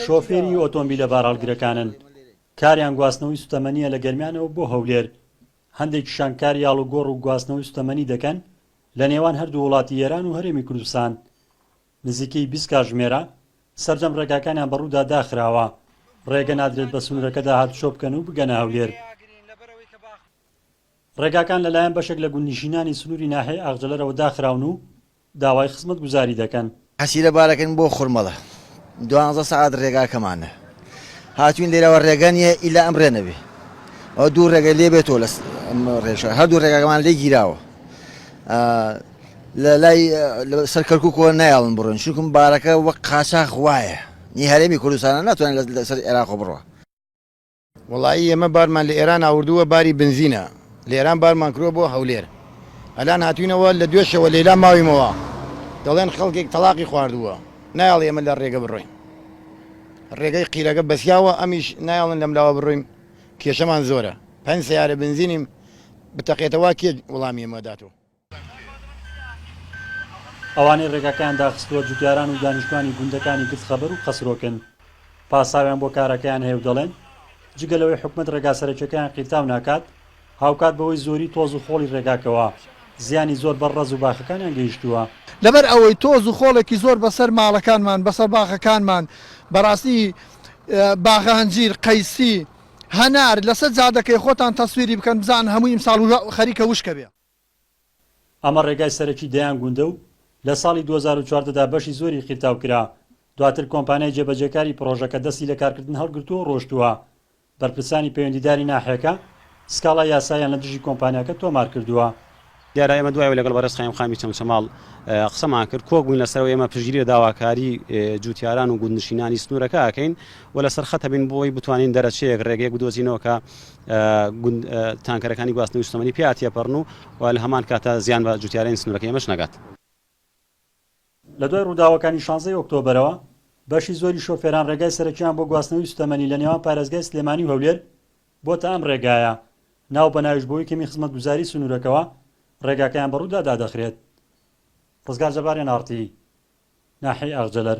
شۆفێری ئۆتۆمبیلە بارهەڵگرەکانن، کاریان گواستنەوەی سوتەمەنییە لە گەرمیانەوە بۆ هەولێر، هەندێکیشان کاری ئاڵوگۆڕ و گواستنەوەی سوتەمەنی دەکەن لە نێوان هەردوو وڵاتی ئێران و هەرێمی کوردستان، نزیکەی بیست کاژمێرە سەرجەم ڕێگاکانیان بەڕوودا داخراوە، ڕێگە نادرێت بە سنوورەکەدا هاتوچۆ بکەن و بگەنە هەولێر. ڕێگاکان لەلایەن بەشێک لە گوندنشینانی سنووری ناحیەی ئاغجەلەرەوە داخراون و داوای خزمەت گوزاری دەکەن. حەسیرە بارەکەن بۆ خورمەڵە دوانزە سەعات رێگاکەمانە هاتوین لێرەوە رێگا نیە ئیلا ئەم رێ نەبێ ئەوە دوو رێگە لێ بێتۆ لە ئەم رێشە هەردوو رێگاکەمان لێ گیراوە لە لای سەر کەرکوکەوە نایاڵن بڕۆن شوکم بارەکە وەک قاچاخ وایە نی هەرێمی کوردستانە ناتوانێت لەسەر عێراق بڕوە وەڵایی ئێمە بارمان لە ئێران ئاوردووە باری بنزینە لە ئێران بارمان کروە بۆ هەولێر ئەلان هاتوینەوە لە دوێشەوە لەیلا ماویمەوە دەڵێن خەڵکێک تەڵاقی خواردووە نایەڵ ئێمە لە ڕێگە بڕۆین ڕێگەی قیرەکە بەسیاوە ئەمیش نایەڵن لەم لاوە بڕۆین کێشەمان زۆرە پەنج سیارە بنزینیم بتەقێتەوە کێ وڵامی ئێمە داتەوە ئەوانەی ڕێگاکەیان داخستووە جوتیاران و دانیشتوانی گوندەکانی گرد خەبەر و قەسرۆکن پاساویان بۆ کارەکەیان هەیە و دەڵێن جگە لەوەی حکومەت ڕێگا سەرەکیەکەیان قیرتاو ناکات هاوکات بەوەی زۆری تۆز و خۆڵی ڕێگاکەوە زیانی زۆر بەر ڕەز و باخەکانیان گەیشتووە. لەبەر ئەوەی تۆز و خۆڵێکی زۆر بەسەر ماڵەکانمان بەسەر باخەکانمان بەڕاستی باخە هەنجیر قەیسی هەنار لەسەر جادەکەی خۆتان تەسویری بکەن بزانن هەمووی ئیمساڵ خەریکە وشکەبێ. ئەمە ڕێگای سەرەکی دەیان گوندە و لە ساڵی دوو هەزار و چواردە دا بەشی زۆری قیرتاو کرا، دواتر کۆمپانیای جێبەجێکاری پڕۆژەکە دەستی لە کارکردن هەڵگرتووە و ڕۆشتووە. بەرپرسانی پەیوەندیداری ناحیەکە سکاڵای یاساییان لە دژی کۆمپانیاکە تۆمار کردووە. دیارە ئێمە دوای ئەوەی لەگەڵ بەڕێز قایمقامی چەمچەماڵ قسەمان کرد، کۆک بووین لەسەر ئەوەی ئێمە پشتگیری لە داواکاری جووتیاران و گوندنشینانی سنوورەکە ئەکەین و لەسەر خەت ئەبین بۆ ئەوەی بتوانین دەرەچەیەک، ڕێگەیەک بدۆزینەوە کە تانکەرەکانی گواستنەوەی سوتەمەنی پێ ئاتیەپەڕن و لە هەمان کاتدا زیان بە جوتیارانی سنوورەکەی ئەمەش نەگات. لە دوای ڕووداوەکانی شانزە ی ئۆکتۆبەرەوە، بەشی زۆری شۆفێران ڕێگای سەرەکییان بۆ گواستنەوەی سوتەمەنی لە نێوان پارێزگای سلێمانی و هەولێر بۆتە ئەم ڕێگایە، ناو بە ناویش بۆی کەمی خزمەتگوزاری سنوورەکەوە ڕێگاکەیان بە ڕوودا دادەخرێت. ڕزگار جەباریان ئاڕتی ناحیەی ئاغجەلەر.